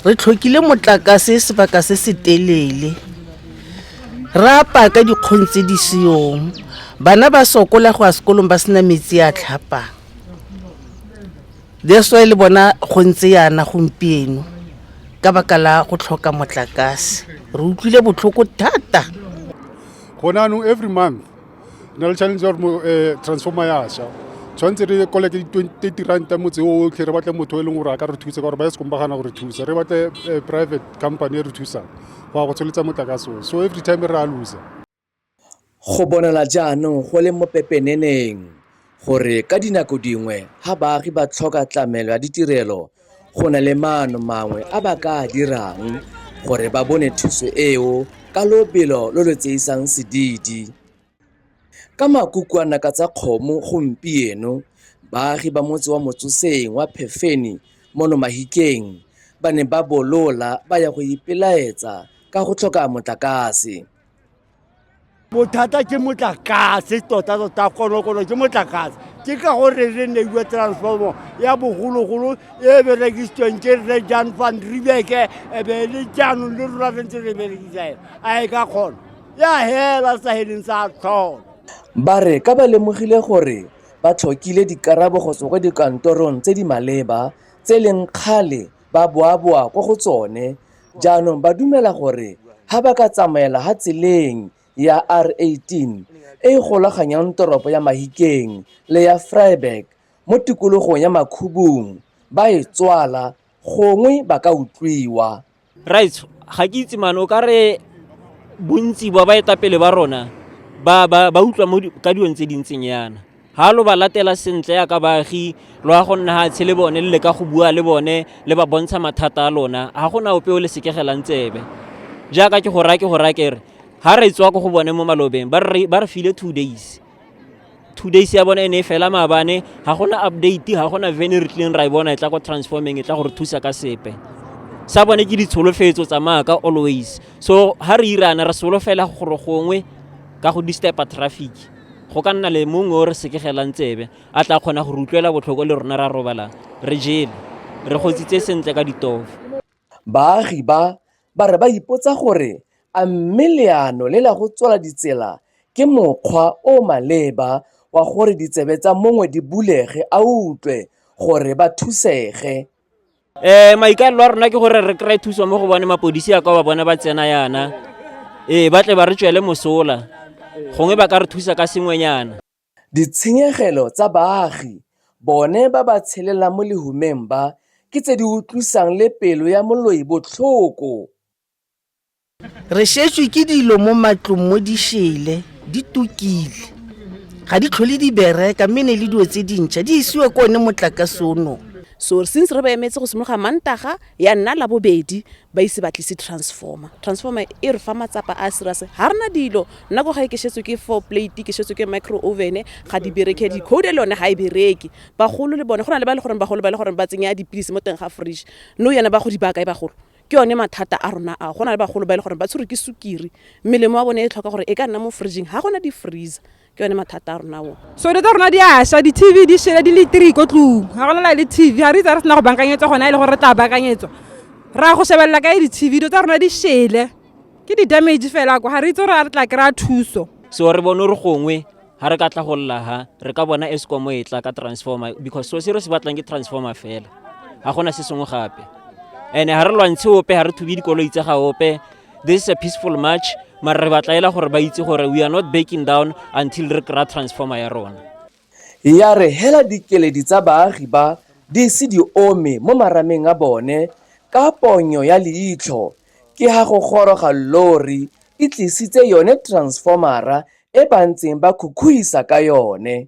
re tlhokile motlakase sebaka se se telele re apa ka dikgong tse di seyong bana ba sokola go ya sekolong ba sena metsi a tlhapang that's why le bona go ntse yana gompieno ka baka la go tlhoka motlakase re utlwile botlhoko thata gone anong every month na le challenge ya gore transformer ya sha tshwanetse re koleke di-twenty ranta motse o otlhe re batle motho e leng gore a ka re thusa ka gore ba ye sekomba gana gore thusa re batle private company e re thusang go ya go tsholetsa motlakase o so every time re a loser go bonala jaanong go le mo pepeneneng gore ka dinako dingwe ga baagi ba tlhoka tlamelo ya ditirelo go na le maano mangwe a ba ka a dirang gore ba bone thuso eo ka lobelo lo lo tseisang sedidi. Ka makukwana ka tsa kgomo gompieno, baagi ba motse wa Motsoseng wa Phefeni mono Mahikeng ba ne ba bolola ba ya go ipelaetsa ka go tlhoka motlakase. bothata ke motlakase tota-tota konokono ke motlakase ke ka gore re neiwe transformo ya bogologolo e berekisitsweng ke re jan van ribeke ebe e le jaanong le rona re ntse re berekisa ena a e ka kgona ya hela sa heleng sa tlhola ba re ka ba lemogile gore ba tlhokile dikarabo go tswa kwa dikantorong tse di maleba tse leng kgale ba boaboa kwa go tsone, jaanong ba dumela gore ga ba ka tsamaela ha tseleng ya R18 e e golaganyang toropo ya Mahikeng le ya Vryburg mo tikologong ya Makhubung ba e tswala gongwe ba ka utlwiwa. Raitsho, ga ke itse mane o ka re bontsi ba baetapele ba rona ba utlwa ka dilong tse di ntseng yana. ga lo ba latela sentle yaka baagi lo ya go nna ga tshe le bone le leka go bua le bone le ba bontsha mathata a lona ga go na ope o le sekegelang tsebe jaaka ke go raya ke go raya kere ga re tswa ko go bone mo malobeng ba re file two days two days ya bone e ne e fela maabane ga gona update ga gona vene re tlileng ra e bona e tla ko transforming e tla gore thusa ka sepe sa bone ke ditsholofetso tsa maaka always so ga re irana re solofela gore gongwe ka go distepa traffic go ka nna le mongwe o re sekegelang tsebe a tla kgona go re utlwela botlhoko le rona ra robalang re jele re gotsitse sentle ka ditofo baagi ba ba re ba ipotsa gore a mme leano le la go tswala ditsela ke mokgwa o o maleba wa gore ditsebe tsa mongwe di bulege a utlwe gore ba thusege. Eh maikalelo a rona ke gore re kry thuso mo go bone mapodisi a kwa ba bone ba tsena yana ee ba tle ba re tswele mosola gongwe ba ka re thusa ka sengwenyana Ditshenyegelo tsa baagi bone ba ba tshelelang mo lehumeng ba ke tse di utlwisang le pelo ya moloi botlhoko. Re šetšwe ke dilo mo matlong mo di šele, di tukile. Ga di tlhole di bereka mme ne le dilo tse dintšha di isiwe ko one motlakase o nong. So since re ba emetse go simologa Mantaga ya nna Labobedi ba ise ba tlise transformer. Transformer e re fa matsapa a serious. Ga re na dilo. Nna ko gae ke šetswe ke four plate, ke šetswe ke micro oven, ga di bereke. Decoder le yone ga e bereke. Bagolo le bone, go na le ba e le goreng bagolo ba e le goreng ba tsenya dipilisi mo teng ga fridge. Nou yana ba go di baya kae bagolo? ke yone mathata a rona ao go na le bagolo ba e le gore ba tshwerwe ke sukiri melemo wa bone e tlhoka gore e ka nna mo fridging ga gona di-freezer ke yone mathata a rona o so dilo tsa rona di aša di-tv di shele di le three ko tlong ga gona la le tv ga re itse re sena go bankanyetswa gona e le gore re tla bankanyetswa ra go shebelela ka e di-tv dilo tsa rona di shele ke di-damage fela ko ga re itse gore a re tla kry-a thuso so re bone gore gongwe ga re ka tla go lla ha re ka bona escom e tla ka transformer because so se re se batlang ke transformer fela ga gona se sengwe gape and ga re lwantshe ope ga re thubi dikoloi tsa ga ope this is a peaceful march mare re batlaela gore ba itse gore we are not backing down until re kry-a transformer ya rona ya re hela dikeledi tsa baagi ba di se di ome mo marameng a bone ka ponyo ya leitlho ke ha go goroga llori e tlisitse yone transformera e ba ntseng ba khukhuisa ka yone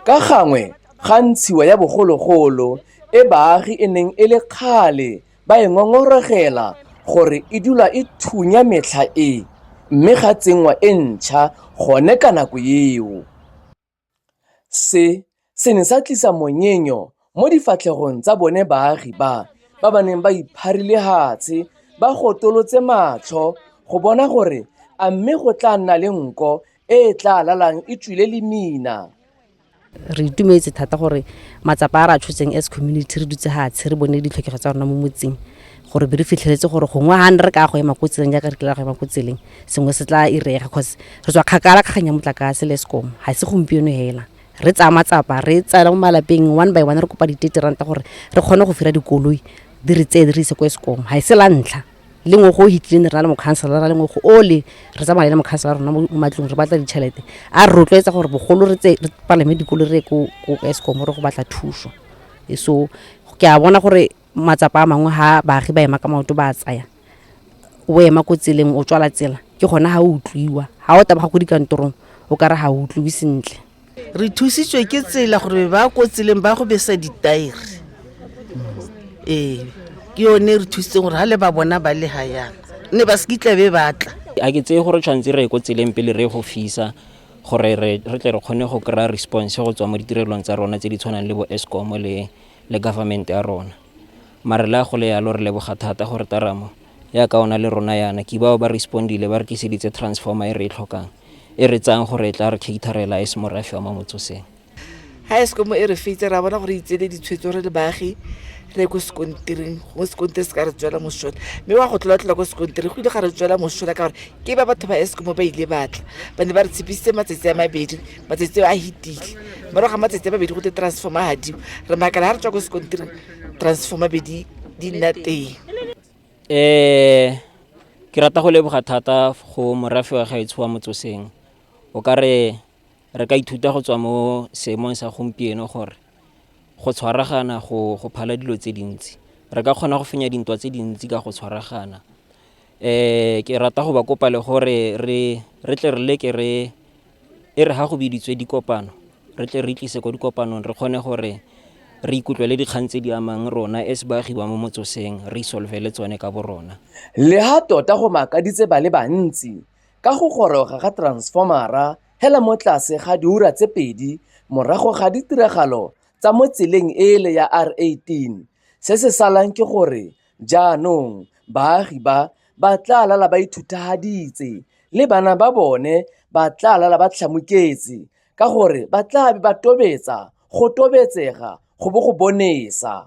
ka gangwe ga ntshiwa ya bogologolo e baagi e neng e le kgale ba e ngongoregela gore e dula e thunya metlha e mme ga tsenngwa e ntšha gone ka nako eo. Se se ne sa tlisa monyenyo mo difatlhegong tsa bone baagi ba ba ba neng ba ipharile hatshe ba gotolotse matlho go bona gore a mme go tla nna le nko e e tla lalang e tswile lemina. re itumetse thata gore matsapa a re a tshotseng as community re dutse hatshe re bone ditlhokego tsa rona mo motseng gore be re fitlheletse gore gongwe ga ne re ka go ema ko tseleng jaaka re kile ra go ema ko tseleng sengwe se tla irega cause re tswa kgakala kgang ya motlakase le sekomo ga se gompieno hela re tsaya matsapa re tsaya mo malapeng one by one re kopa ditete ranta gore re kgone go fira dikoloi di re tseye di re ise ko sekomo ga e se la ntlha le ngwe go o hitlileng re na le mokhansela ra le ngwe go ole re tsamaya le mokhansela rona mo matlong re batla ditšhelete a re rotloetsa gore bogolo re tse re palame dikolo re ye ko ko eskom re go batla thuso E so ke a bona gore matsapa a mangwe ha baagi ba ema ka maoto ba a tsaya o ema ko tseleng o tswala tsela ke gona ga o utlwiwa ga o tabaga ko dikantorong o ka re ga o utlwiwe sentle re thusitswe ke tsela gore ba ko tseleng ba go besa ditaere ee ke yone re thusitseng gore ga le ba bona ba le ga yana ne ba se kitla be batla a ke tseye gore tshwanetse re ye ko tseleng pele re go fisa gore re tle re kgone go kry-a response go tswa mo ditirelong tsa rona tse di tshwanang le bo escom le le government ya rona. Mare le ha go le yalo re leboga thata gore Taramo ya ka ona le rona yana ke bao ba respondile ba re tliseditse transformer e re e tlhokang e re tsayang gore e tla re caterela as morafe wa mo motsoseng. Ha Eskom e re feitse ra bona gore e tsele ditshwetso re le baagi re ko sekontiring go sekontiri se ka re tswela mosola mme wa go tlolatlhola ko sekontiri go ile ga re tswela mosola ka gore ke ba batho ba eskom ba ile batla ba ne ba re tshepisitse matsatsi a mabedi matsatsi a hitile mara ga matsatsi a babedi go te transforma gadiwa re makala ga re tswa ko sekontiri transforma be di nna teng um ke rata go leboga thata go morafe wa gaetsho wa motsoseng o ka re re ka ithuta go tswa mo seemong sa gompieno gore go tshwaragana go go phala dilo tse dintsi re ka kgona go fenya dintwa tse dintsi ka go tshwaragana um ke rata go ba kopa le gore re tle re leke re E re ga go biditswe dikopano re tle re tlise ko dikopanong re kgone gore re ikutlwele dikgang tse di amang rona as baagi ba mo motsoseng re isolvele tsone ka borona. Le ha tota go makaditse ba le bantsi ka go goroga ga transfomara hela mo tlase ga diura tse pedi morago ga ditiragalo tsa mo tseleng ele ya R18, se se salang ke gore Jaanong baagi ba ba tla lala ba ithuthahaditse, le bana ba bone ba tla lala ba tlhamuketse, ka gore ba tla be ba tobetsa, go tobetsega go bo go bonesa.